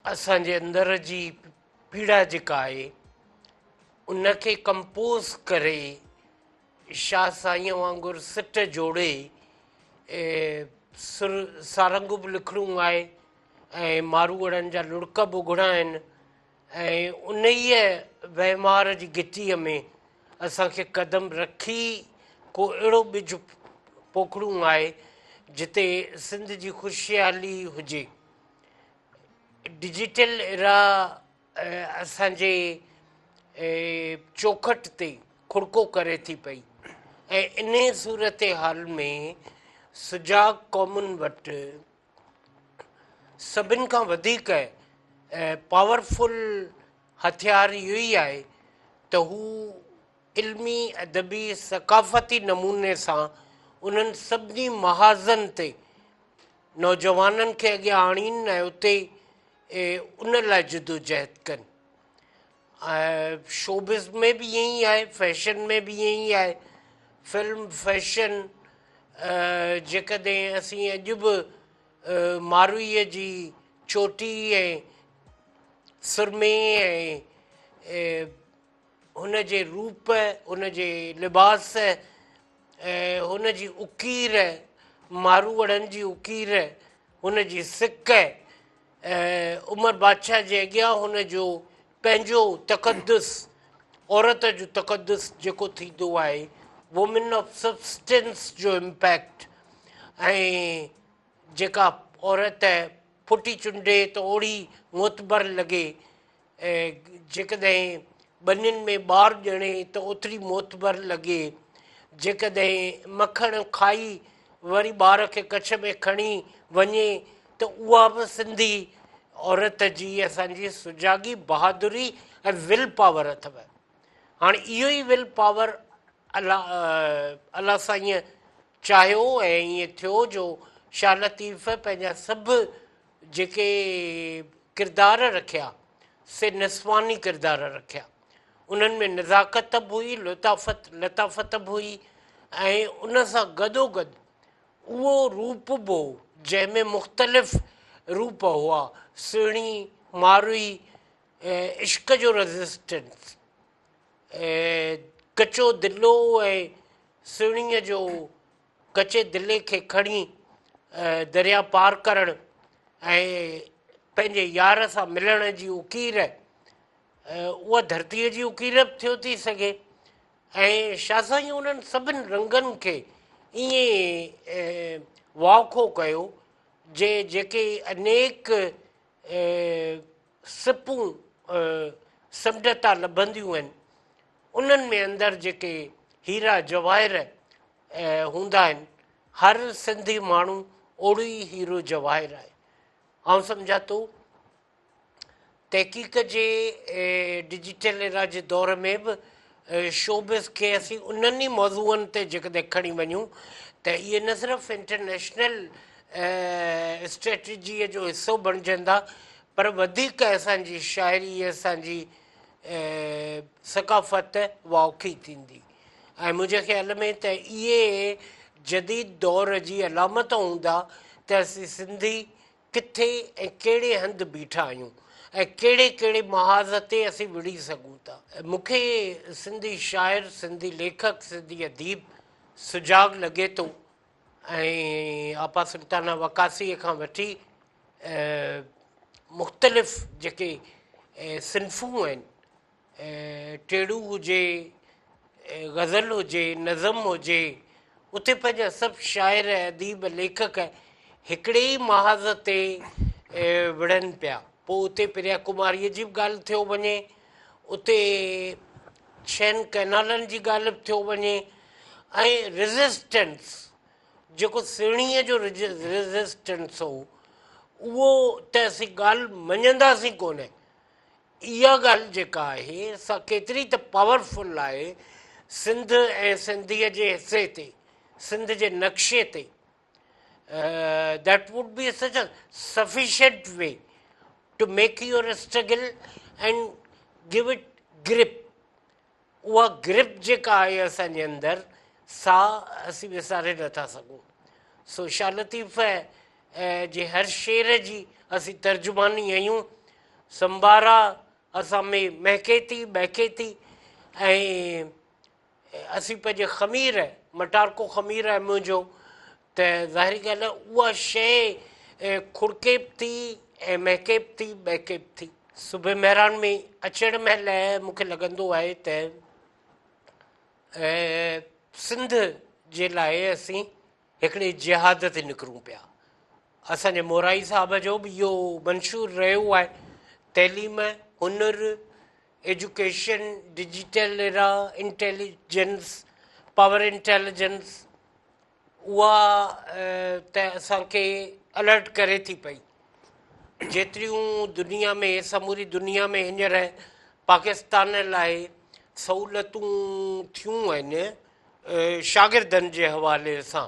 اسان جي اندر جي پيڙا جيڪا آهي ان کي ڪمپوز ڪري شاهه سائينء وانگر سٽ جوڙي سر سارنگون به لکڻون آهي ۽ ماروئڙن جا لڙڪ به اگهڻا آهن ۽ انهيء وهنوار جي گتيء ۾ اسان کي قدم رکي ڪو اهڙو ٻج پوکڻون آهي جتي سنڌ جي خوشحالي هجي ڊجيٽل ارا اسان جي چوکٽ تي کڙڪو ڪري ٿي پئي ۽ ان صورتحال ۾ سجاڳ قومن وٽ سڀن کان وڌيڪ پاورفل هٿيار اهو ئي آهي ته هو علمي، ادبي، ثقافتي نموني سان انهن سڀني محاذن تي نوجوانن کي اڳيان آڻين ۽ اتي ان لاء جدوجهد ڪن. شوبز ۾ به ائين ئي آهي، فيشن ۾ به ائين ئي آهي، فلم فيشن جيڪڏهن اسين اڄ به ماروئيء جي چوٽي ۽ سرمي ۽ هن جي روپ، هن جي لباس ۽ هن جي اڪير، ماروئڙن جي اڪير، هن جي سڪ ۽ عمر بادشاهه جي اڳيان هن جو پنهنجو تقدس، عورت جو تقدس جيڪو ٿيندو آهي، Women of Substance جو امپيڪٽ ۽ جيڪا عورت ڦٽي چنڊي ته اوڙي معتبر لڳي، ۽ جيڪڏهن ٻنين ۾ ٻار ڄڻي ته اوتري معتبر لڳي. جيڪڏهن مکڻ کائي وري ٻار کي ڪڇ ۾ کڻي وڃي ته اها به سنڌي عورت جي اسان جي سجاڳي بهادري ۽ ول پاور اٿو. هاڻي اهو ئي ول پاور الله الله سائينء چاهيو ۽ ائين ٿيو جو شاهه لطيف پنهنجا سڀ جيڪي ڪردار رکيا سي نسواني ڪردار رکيا انهن ۾ نزاڪت به هئي لطافت لطافت به هئي ۽ ان سان گڏو گڏ اهو روپ به هو جنهن ۾ مختلف روپ هئا سهڻي ماروئي عشق جو رزسٽنس ڪچو دلو ۽ سهڻيء جو ڪچي دلي کي کڻي درياء پار ڪرڻ ۽ پنهنجي يار سان ملڻ جي اڪير اها ڌرتيء جي اڪير به ٿيو ٿي سگهي ۽ شاهه سائين انهن سڀني رنگن کي ائين واکو ڪيو جي جيڪي انيڪ سپون سمنڊ تان لڀنديون آهن انهن ۾ اندر جيڪي هيرا جواهر هوندا آهن هر سنڌي ماڻهو اوڙو ئي هيرو جواهر آهي آئون سمجهان ٿو تحقيق جي ڊجيٽل ايرا جي دور ۾ به شوبز کي اسين انهن ئي موضوعن تي جيڪڏهن کڻي وڃون ته اهي نه صرف انٽرنيشنل اسٽريٽجيء جو حصو بڻجندا پر وڌيڪ اسان جي شاعري، اسان جي ثقافت واوکي ٿيندي ۽ منهنجي خيال ۾ ته اهي جديد دور جي علامت هوندا ته اسين سنڌي ڪٿي ۽ ڪهڙي هنڌ بيٺا آهيون ۽ ڪهڙي ڪهڙي محاذ تي اسين وڙهي سگهون ٿا. مون کي سنڌي شاعر، سنڌي ليکڪ، سنڌي اديب سجاڳ لڳي ٿو ۽ آپا سلطانه وقاصيء کان وٺي مختلف جيڪي صنفون آهن، ٽيڙو هجي، غزل هجي، نظم هجي، اتي پنهنجا سڀ شاعر، اديب، ليکڪ هڪڙي ئي محاذ تي وڙهن پيا. پوء اتي پريا ڪماريء جي به ڳالهه ٿيو وڃي، اتي ڇهن ڪئنالن جي ڳالهه به ٿيو وڃي ۽ ريزسٽنس جيڪو سهڻيء جو ريزسٽنس هو اهو ته اسين ڳالهه مڃنداسين ڪونه. اها ڳالهه جيڪا آهي سا ڪيتري ته پاور فل آهي سنڌ ۽ سنڌيء جي حصي تي سنڌ جي نقشي تي that would be such a sufficient way to make your struggle and give it grip اها گرپ جيڪا آهي اسان جي اندر سا اسين وساري نٿا سگهون سو شاهه لطيف جي هر شعر جي اسين ترجماني آهيون سنبارا اسان ۾ مهڪي ٿي ٻهڪي ٿي ۽ اسين پنهنجي خمير مٽارڪو خمير آهي منهنجو ته ظاهري ڳالهه آهي اها شيء کڙڪي به ٿي ۽ مهڪي به ٿي ٻهڪي به ٿي صبح مهراڻ ۾ اچڻ مهل مونکي لڳندو آهي ته سنڌ جي لاء اسين هڪڙي جهاد تي نڪرون پيا اسان جي مورائي صاحب جو به اهو منشور رهيو آهي تعليم هنر education digital era intelligence power intelligence اها ته اسان کي الرٽ ڪري ٿي پئي. جيتريون دنيا ۾ سموري دنيا ۾ هينئر پاڪستان لاء سهولتون ٿيون آهن شاگردن جي حوالي سان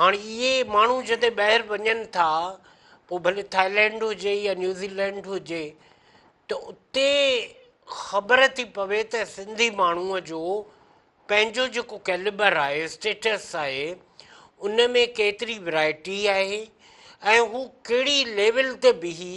هاڻ اهي ماڻهو جڏهن ٻاهر وڃن ٿا پوء ڀلي ٿائلينڊ هجي يا نيوزيلينڊ هجي ته اتي خبر ٿي پوي ته سنڌي ماڻهوء جو پنهنجو جيڪو ڪيلبر آهي اسٽيٽس آهي ان ۾ ڪيتري ورائٽي آهي ۽ هو ڪهڙي ليول تي بيهي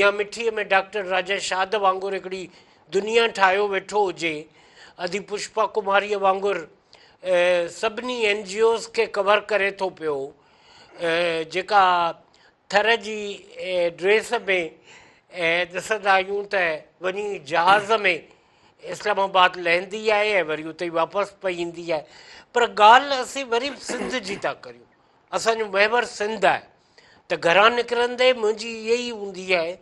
يا مٺيء ۾ ڊاڪٽر راجا شاد وانگر هڪڙي دنيا ٺاهيو ويٺو هجي، ادي پشپا ڪماريء وانگر سڀني اين جي اوز کي ڪور ڪري ٿو پيو، جيڪا ٿر جي ڊريس ۾ ڏسندا آهيون ته وڃي جهاز ۾ اسلام آباد لهندي آهي ۽ وري اتي ئي واپس پئي ايندي آهي پر ڳالهه اسين وري به سنڌ جي ٿا ڪريون، اسان جو محور سنڌ آهي. ته گهران نڪرندي منهنجي اهي ئي هوندي آهي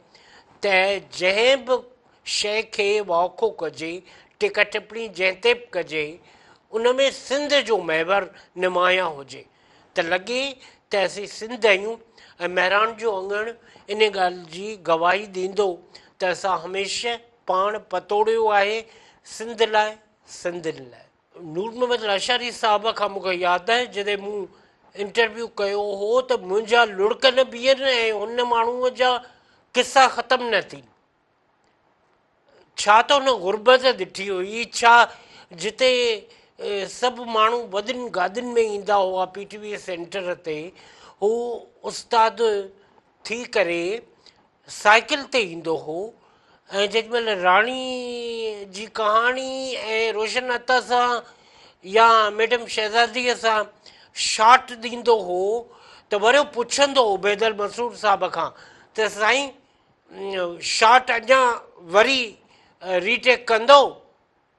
ته جنهن به شيء کي واکو ڪجي، ٽيڪا ٽپڻي جنهن تي به ڪجي، ان ۾ سنڌ جو محور نمايان هجي ته لڳي ته اسين سنڌ آهيون ۽ مهراڻ جو اڱڻ ان ڳالهه جي گواهي ڏيندو ته اسان هميشه پاڻ پتوڙيو آهي سنڌ لاء، سنڌين لاء. نور محمد لاشاري صاحب کان مون کي ياد آهي جڏهن مون انٽرويو ڪيو هو ته منهنجا لڙڪ نه بيهن ۽ ان ماڻهوء جا قصا ختم نه ٿين ڇا ته هن غربت ڏٺي هئي ڇا جتي سڀ ماڻهو وڏين گاڏين ۾ ايندا هئا پي ٽي وي سينٽر تي هو استاد ٿي ڪري سائيڪل تي ايندو هو ۽ جيڏي مهل راڻي جي ڪهاڻي ۽ روشن عطا سان يا ميڊم شهزاديء سان شاٽ ڏيندو هو ته وريو پڇندو هو بيدل مسرور صاحب کان ته سائين شاٽ اڃا وري ري ٽيڪ ڪندو؟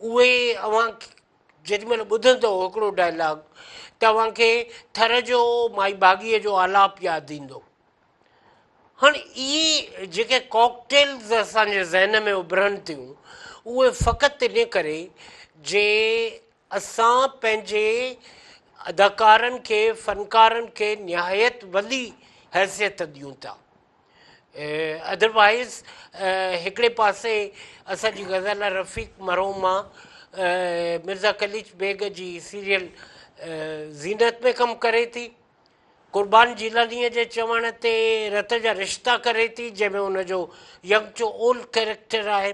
اهي اوهان جيڏي مهل ٻڌندؤ هڪڙو ڊائلاگ ته اوهان کي ٿر جو مائي ڀاڳيء جو آلاپ ياد ايندو. هاڻ اهي جيڪي ڪاڪٽيلز اسان جي ذهن ۾ اڀرن ٿيون اهي فقط ان ڪري جي اسان پنهنجي اداڪارن کي فنڪارن کي نهايت وڏي حيثيت ڏيون ٿا. ادر وائيز هڪڙي پاسي اسان جي غزاله رفيق مرحومه مرزا قليچ بيگ جي سيريل زينت ۾ ڪم ڪري ٿي قربان جيلانيء جي چوڻ تي رت جا رشتا ڪري ٿي جنهن ۾ ان جو ينگ چو اولڊ ڪيريڪٽر آهي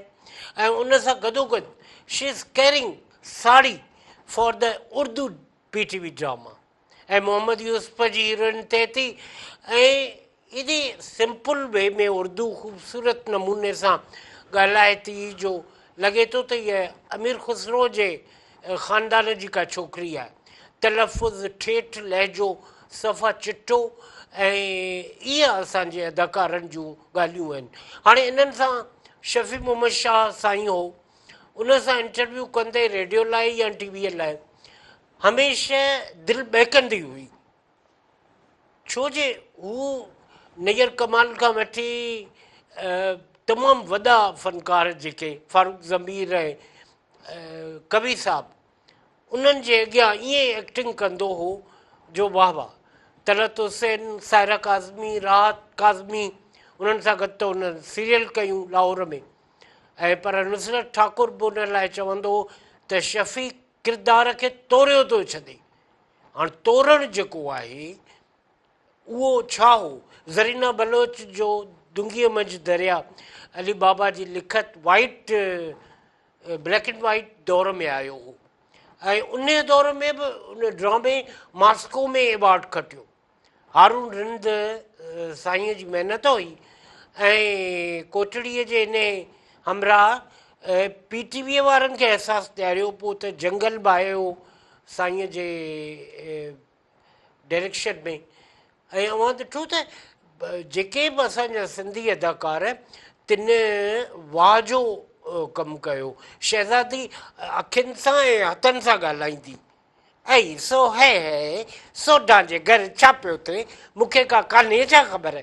۽ ان سان گڏوگڏ she is carrying sari for the Urdu P T V drama ۽ Muhammad Yusuf جي هيروئن ٿئي ٿي ۽ ايڏي سمپل وي ۾ اردو خوبصورت نموني سان ڳالهائي ٿي جو لڳي ٿو ته هيء امير خسرو جي خاندان جي ڪا ڇوڪري آهي. تلفظ ٺيٺ، لهجو صفا چٽو ۽ اهي اسان جي اداڪارن جون ڳالهيون آهن. هاڻي انهن سان شفيع محمد شاهه سائين هو. ان سان انٽرويو ڪندي ريڊيو لاء يا ٽي ويء لاء هميشه دل ٻهڪندي هئي ڇو جو هو نير ڪمال کان وٺي تمام وڏا فنڪار جيڪي فاروق ضمير ۽ ڪوي صاحب انهن جي اڳيان ائين ايڪٽنگ ڪندو هو جو واه واه. طلعت حسين، سائره ڪاظمي، راحت ڪاظمي انهن سان گڏ ته هن سيريل ڪيون لاهور ۾ ۽ پر نصرت ٺاڪر به ان لاء چوندو هو ته شفيق ڪردار کي توريو ٿو ڇڏي. هاڻ تورڻ جيڪو آهي اهو ڇا هو؟ زرينه بلوچ جو دونگيء منجهه دريا علي بابا جي لکت وائيٽ بليڪ اينڊ وائيٽ دور ۾ آيو هو ۽ ان دور ۾ به ان ڊرامي ماسڪو ۾ ايوارڊ کٽيو هارون رند سائينء جي محنت هئي ۽ ڪوٽڙيء جي ان همراهه پي ٽي ويء وارن کي احساس ڏياريو پوء ته جنگل ڀائيو سائينء جي ڊائريڪشن ۾ ۽ اوهان ڏٺو ته جيڪي به اسان جا سنڌي اداڪار تن واهه جو ڪم ڪيو شهزادي اکين سان ۽ هٿن سان ڳالهائيندي اي سو هي هي سوڍان جي گهر ڇا پيو ٿئي مون کي ڪا ڪانهي ڇا خبر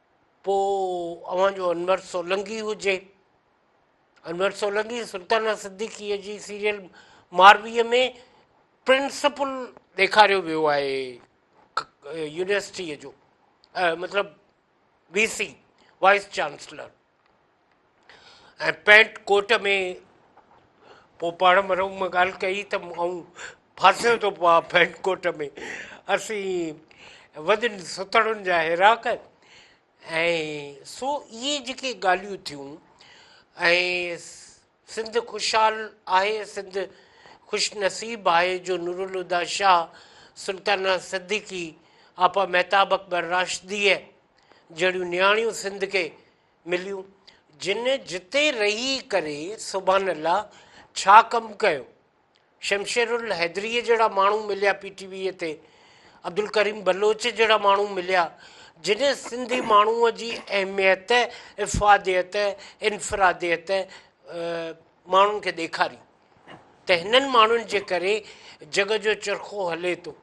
پوء اوهان جو انور سولنگي هجي انور سولنگي سلطانه صديقيء جي سيريل مارويء ۾ پرنسپل ڏيکاريو ويو آهي يونيورسٽيء جو مطلب V C vice chancellor ۽ pant coat ۾ پوء پاڻ مرحوم مان ڳالهه ڪئي ته آئون ڦاسيو ٿو پواں پينٽ ڪوٽ ۾ اسين وڏن سٿڙن جا هيراڪ ۽ سو اهي جيڪي ڳالهيون ٿيون ۽ سنڌ خوشحال آهي سنڌ خوش نصيب آهي جو نورالهديٰ شاهه سلطانه صديقي آپا مهتاب اڪبر راشديء جهڙيون نياڻيون سنڌ کي مليون جن جتي رهي ڪري سبحان الله ڇا ڪم ڪيو شمشير الحيدريء جهڙا ماڻهو مليا پي ٽي ويء تي عبدالڪريم بلوچ جهڙا ماڻهو مليا جن سنڌي ماڻهوء جي اهميت افاديت انفراديت ماڻهن کي ڏيکاري ته هنن ماڻهن جي ڪري جڳ جو چرخو هلي ٿو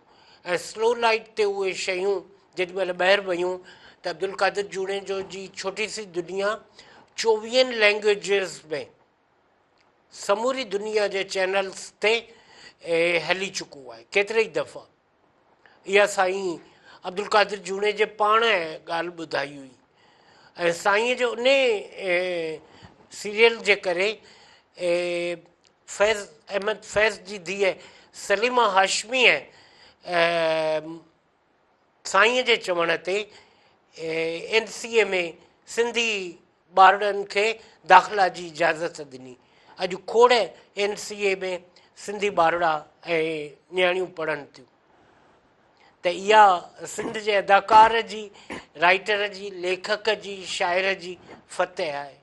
۽ سلو لائيٽ تي اهي شيون جيڏي مهل ٻاهر ويون ته عبدالقادر جوڻيجو جي ڇوٽي سي دنيا چوويهن لينگويجز ۾ سموري دنيا جي چينلز تي هلي چڪو آهي ڪيتري ئي دفعا اها سائين عبدالقادر جوڻيجي پاڻ ڳالهه ٻڌائي هئي ۽ سائينء جو انهي سيريل جي ڪري فيض احمد فيض جي ڌيء سليمه هاشميء سائينء جي چوڻ تي اين سي اي ۾ سنڌي ٻارڙن کي داخلا جي اجازت ڏني، اڄ کوڙ اين سي اي ۾ سنڌي ٻارڙا ۽ نياڻيون پڙهن ٿيون ته اها سنڌ جي اداڪار جي، رائيٽر جي، ليکڪ جي، شاعر جي فتح آهي.